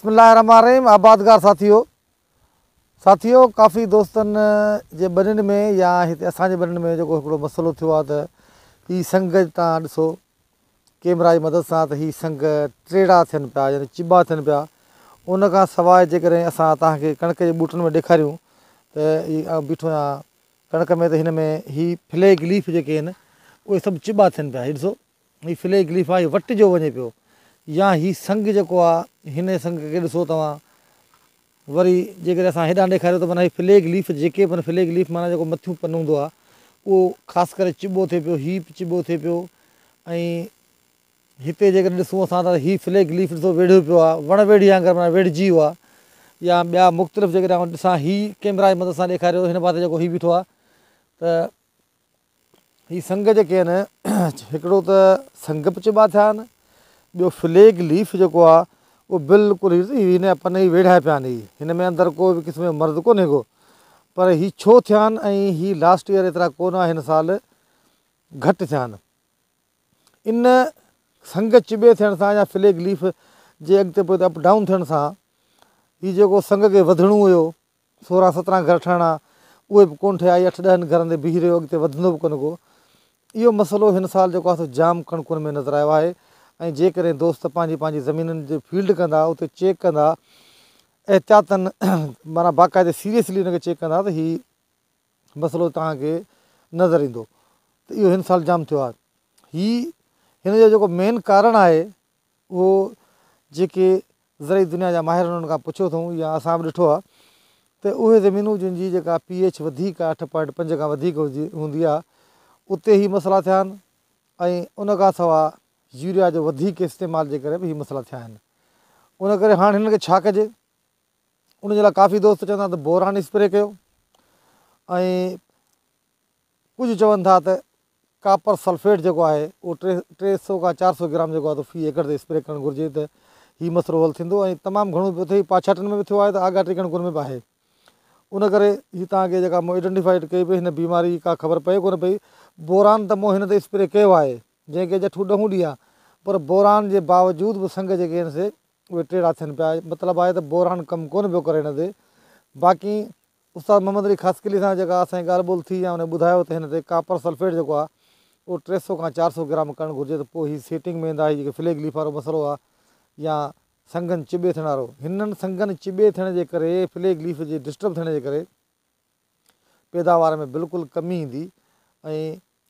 بسم الله الرحمٰن الرحيم آبادگار ساٿيو ساٿيو ڪافي دوستن جي ٻنين ۾ يا هتي اسان جي ٻنين ۾ جيڪو هڪڙو مسئلو ٿيو آهي ته هي سنگ تان ڏسو ڪيمرا جي مدد سان ته هي سنگ ٽيڙا ٿين پيا يعني چٻا ٿين پيا ان کان سواء جيڪڏهن اسان توهان کي ڪڻڪ جي ٻوٽن ۾ ڏيکاريون ته هي آئون بيٺو آهيان ڪڻڪ ۾ ته هن ۾ هي فليگ ليف جيڪي آهن اهي سڀ چٻا ٿين پيا هي ڏسو هي فلي گليفا هي وٽ جو وڃي پيو يا هي سنگ جيڪو آ هن سنگ کي ڏسو توهان وري جيڪڏهن اسان هيڏانهن ڏيکاريو ته معنيٰ هي فلي گليف جيڪي به فلي گليف معنيٰ جيڪو مٿيون پن هوندو آ اهو خاص ڪري چٻو ٿئي پيو هي به چٻو ٿئي پيو ۽ هتي جيڪڏهن ڏسون اسان ته هي فلي گليف ڏسو ويڙهيو پيو آ وڻ ويڙهي وانگر معنيٰ ويڙهجي ويو آ يا ٻيا مختلف جيڪڏهن آئون ڏسان هي ڪيمرا جي مدد سان ڏيکاريو هن پاسي جيڪو هي بيٺو آ ته هي سنگ جيڪي آهن هڪڙو ته سنگ به چئبا ٿيا آهن ٻيو فليگ ليف جيڪو آهي اهو بلڪل هن جا پن ئي ويڙها پيا آهن هن ۾ اندر ڪو به قسم جو مرض ڪونهي ڪو پر هي ڇو ٿيا آهن ۽ هي لاسٽ ايئر ايترا ڪونه آهن هن سال گهٽ ٿيا آهن ان سنگ چٻي ٿيڻ سان يا فليگ ليف جي اڳتي پوئتي اپ ڊائون ٿيڻ سان هي جيڪو سنگ کي وڌڻو هيو سورهن سترهن گهر ٺهڻا اهي به ڪونه ٺهيا اهي اٺ ڏهن گهرن تي بيهي رهيو اڳتي وڌندو به ڪونه ڪو اهو مسئلو هن سال جيڪو آهي سو جام ڪڻڪن ۾ نظر آيو آهي ۽ جيڪڏهن دوست پنهنجي پنهنجي زمينن جي فيلڊ ڪندا اتي چيڪ ڪندا احتياطن معنيٰ باقاعدي سيريسلي ان کي چيڪ ڪندا ته هي مسئلو تهانکي نظر ايندو ته اهو هن سال جام ٿيو آهي هي هن جو جيڪو مين ڪارڻ آهي اهو جيڪي زرعي دنيا جا ماهر انهن کان پڇيو اٿئون يا اسان به ڏٺو آهي ته اهي زمينون جن جي جيڪا پي ايڇ وڌيڪ آهي اٺ پوائنٽ پنج کان وڌيڪ هوندي آهي اتي هي مسئلا ٿيا آهن ۽ ان کان سواء يوريا جو وڌيڪ استعمال جي ڪري به هي مسئلا ٿيا آهن ان ڪري هاڻ هنن کي ڇا ڪجي ان جي لاء ڪافي دوست چون ٿا ته بوران اسپري ڪيو ۽ ڪجهه چون ٿا ته ڪاپر سلفيٽ جيڪو آهي اهو ٽي ٽي سؤ کان چار سؤ گرام جيڪو آهي تو في ايڪڙ تي اسپري ڪرڻ گهرجي ته هي مسئلو حل ٿيندو ۽ تمام گهڻو پيو ٿئي پاڇاٽن ۾ به ٿيو آهي ته آگاهه ٽيڪن ڪن ۾ به آهي ان ڪري هي توهان کي جيڪا مون ايڊنٽيفائيڊ ڪئي پئي هن بيماري جي ڪا خبر پئي ڪونه پئي بوران ته مون هن تي اسپري ڪيو آهي جنهن کي جٺون ڏهون ڏينهن پر بوران جي باوجود به سنگ جيڪي آهن سي اهي ٽيڙا ٿين پيا مطلب آهي ته بوران ڪم ڪونه پيو ڪري هن تي باقي استاد محمد علي خاصخيلي سان جيڪا اسان جي ڳالهه ٻولهه ٿي يا انهن ٻڌايو ته هن تي ڪاپر سلفيٽ جيڪو آهي اهو ٽي سؤ کان چار سؤ گرام ڪرڻ گهرجي ته پوء هي سيٽنگ ۾ ايندا هي جيڪي فليگ ليف وارو مسئلو آهي يا سنگن چٻي ٿيڻ وارو هنن سنگن چٻي ٿيڻ جي ڪري فليگ ليف جي ڊسٽرب ٿيڻ جي ڪري پيداوار ۾ بلڪل ڪمي ايندي ۽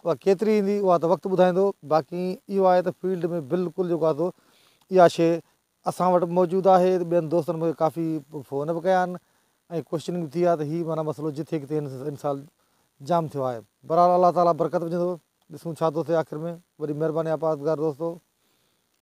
اها ڪيتري ايندي اها ته وقت ٻڌائيندو باقي اهو آهي ته فيلڊ ۾ بلڪل جيڪو آهي سو اها شيء اسان وٽ به موجود آهي ته ٻين دوستن مون کي ڪافي فون به ڪيا آهن ۽ ڪوشچنگ به ٿي آهي ته هي معنيٰ مسئلو جٿي ڪٿي هن سال جام ٿيو آهي بهرحال الله تعاليٰ برڪت وجهندو ڏسون ڇا ٿو ٿئي آخر ۾ وڏي مهرباني آهي پرهيزگار دوستو